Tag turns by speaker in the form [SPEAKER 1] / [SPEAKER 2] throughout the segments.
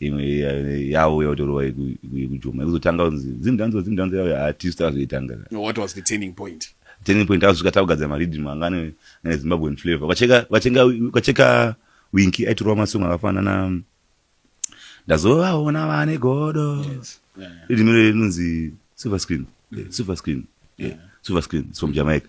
[SPEAKER 1] imwe yavo yautorova yekujoma yekuzotanga kunzi zimdanzo zimdanzo yavo hatisu takazoitanga what was the turning point turning point azvika takugadzira mariddim anga ane zimbabwean flavor ukacheka winki aitorova masong akafanana ndazovaona vane godo riddim iro rinonzi silver screen silver screen silver screen from jamaica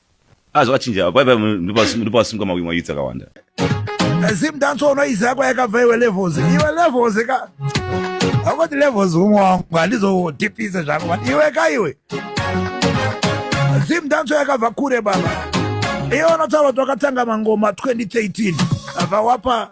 [SPEAKER 1] Ah, zvakachinja apa ipa ndipo vasimuka mawimwa mayuts akawanda eh, zim dance ono izi yako yakabva iwe levels iwe levels ka akoti levels umwe wangu handizodipise zvangu iwe ka iwe zim dance yakabva kure baba iwe unotaura kuti wakatanga mangoma 2013 vawapa